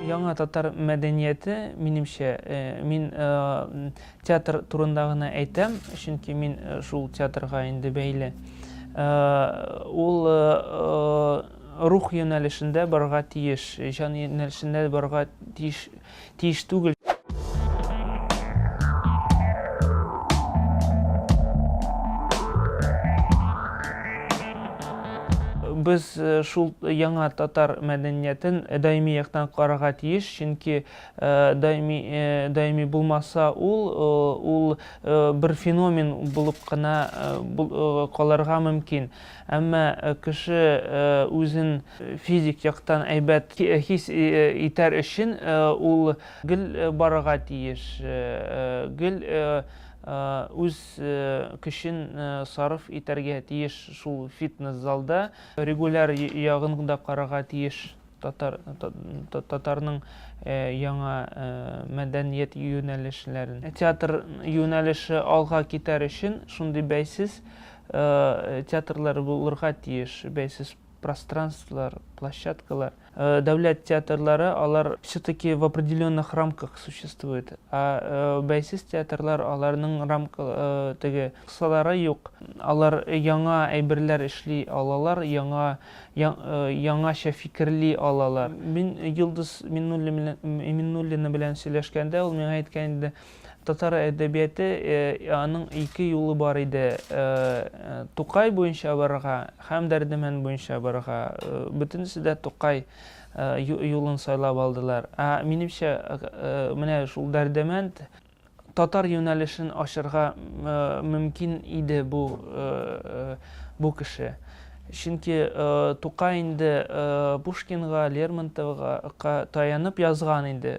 Яңа татар мәдәнияте, минемчә, мин театр турында гына әйтәм, чөнки мин шул театрга инде бәйле. Ул рух юнәлешендә барырга тиеш, җан юнәлешендә барырга тиеш тиеш түгел. без э, шул яңа татар мәдәниятен э, даими яктан карарга тиеш, чөнки э, даими даими булмаса ул ул бер феномен булып кына калырга мөмкин. Әмма кеше үзен физик яктан әйбәт хис итәр өчен ул гел барырга тиеш, гел үз көчен сарыф итәргә тиеш шул фитнес залда, регуляр ягын да карарга тиеш. Татар, татарның яңа мәдәният юнәлешләрен. Театр юнәлеше алга китәр өчен шундый бәйсез театрлар булырга тиеш, бәйсез пространстволар, площадкалар. Дәүләт театрлары, алар все-таки в определенных рамках существует. А бәйсез театрлар, аларның рамка теге кысалары юк. Алар яңа әйберләр эшли алалар, яңа яңача фикерли алалар. Мин Йолдыз Миннуллина белән сөйләшкәндә, ул миңа әйткән иде, татар әдәбияты, аның ике юлы бар иде, Тукай буенча барырга һәм Дәрдемәнд буенча барырга. Бөтенесе дә Тукай юлын сайлап алдылар. Ә минемчә, менә шул Дәрдемәнд, Татар юнәлешен ачырга мөмкин иде бу бу кеше. Чөнки Тукай инде Пушкинга, Лермонтовга ка таянып язган инде,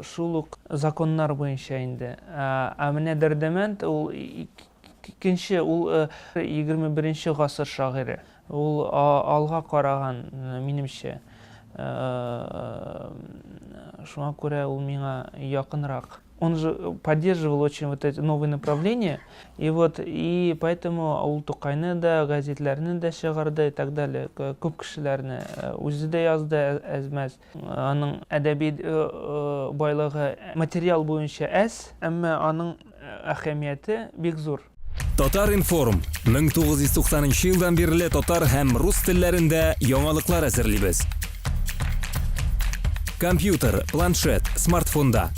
шул ук законнар буенча инде. Ә менә Дәрдемәнд ул икенче, ул егерме беренче гасыр шагыйре. Ул алга караган, минемчә. Шуңа күрә ул миңа якынрак. Он же поддерживал очень вот эти новые направления. И вот, и поэтому ул Тукайны да, газетләрне дә чыгарды и так далее. Күп кешеләрне үзе дә язды әз-мәз. Аның әдәби байлыгы материал буенча әз, әмма аның әһәмияте бик зур. Татар-информ, 1990 нчы елдан бирле татар һәм рус телләрендә яңалыклар әзерлибез. Компьютер, планшет, смартфонда.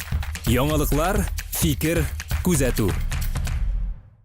Яңалыклар, фикер, күзәтү.